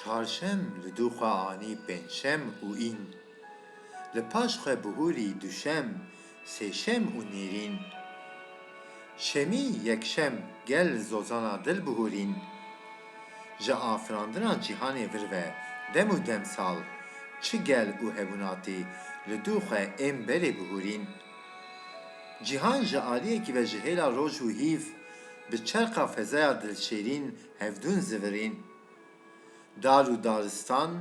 Çarşem li dû xwe anî pêncşem û în. Li paş xwe bihûrî duşem, sêşem û nêrîn. Şemî yekşem gel zozana dil bihûrîn. Ji afirandina cîhanê vir ve dem û dem sal çi gel û hevûnatî li dû xwe ên berê bihûrîn. Cîhan ji aliyekî ve ji hêla roj û hîv bi çerxa fezaya dilşêrîn hevdûn zivirîn. Dar û daristan,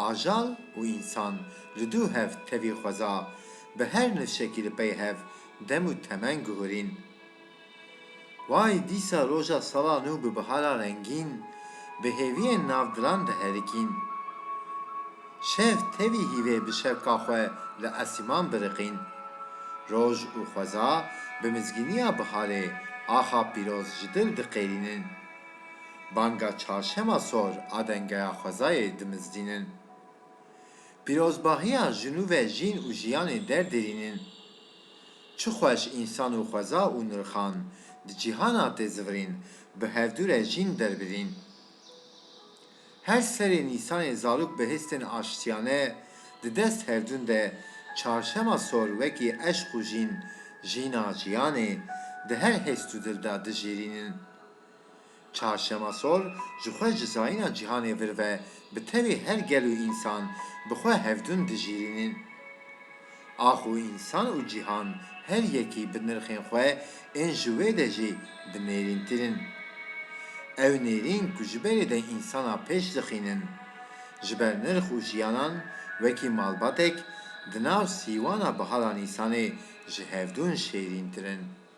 ajal û însan li dû hev tevî xweza bi her nifşekî li pey hev dem û temen guhûrîn. Way dîsa roja sala nû bi bihara rengîn, bi hêviyên nav diran diherikîn. Şev tevî hîvê bi şevka xwe li esîman biriqîn. Roj û xweza bi mizgîniya biharê axa pîroz ji dil diqêrînin. Banga çarşema sor a dengeya xwezayê dimizdînin. Pîrozbahiya jinû ve jîn û jiyanê derdirînin. Çi xweş însan û xweza û nirxan di cîhana tê zivirîn bi hevdu re jîn derbirîn. Her serê Nîsanê zarok bi histên aştiyane di dest hevdun de çarşema sor wekî eşq û jîn, jîna jiyanê, di her hest û dil de dijêrînin. Çarşema sor ji xwe ji zayîna cîhanê vir ve bi tevî her gel û însan bi xwe hevdûn dijîrînin. Ax û însan û cîhan her yekî bi nirxên xwe ên ji wê de jî bi nêrîntir in. Ew nêrîn ku ji berê de însana pêş dixînin, ji ber nirx û jiyanan wekî malbatek di nav sîwana bihara nîsanê ji hevdûn şêrîntir in.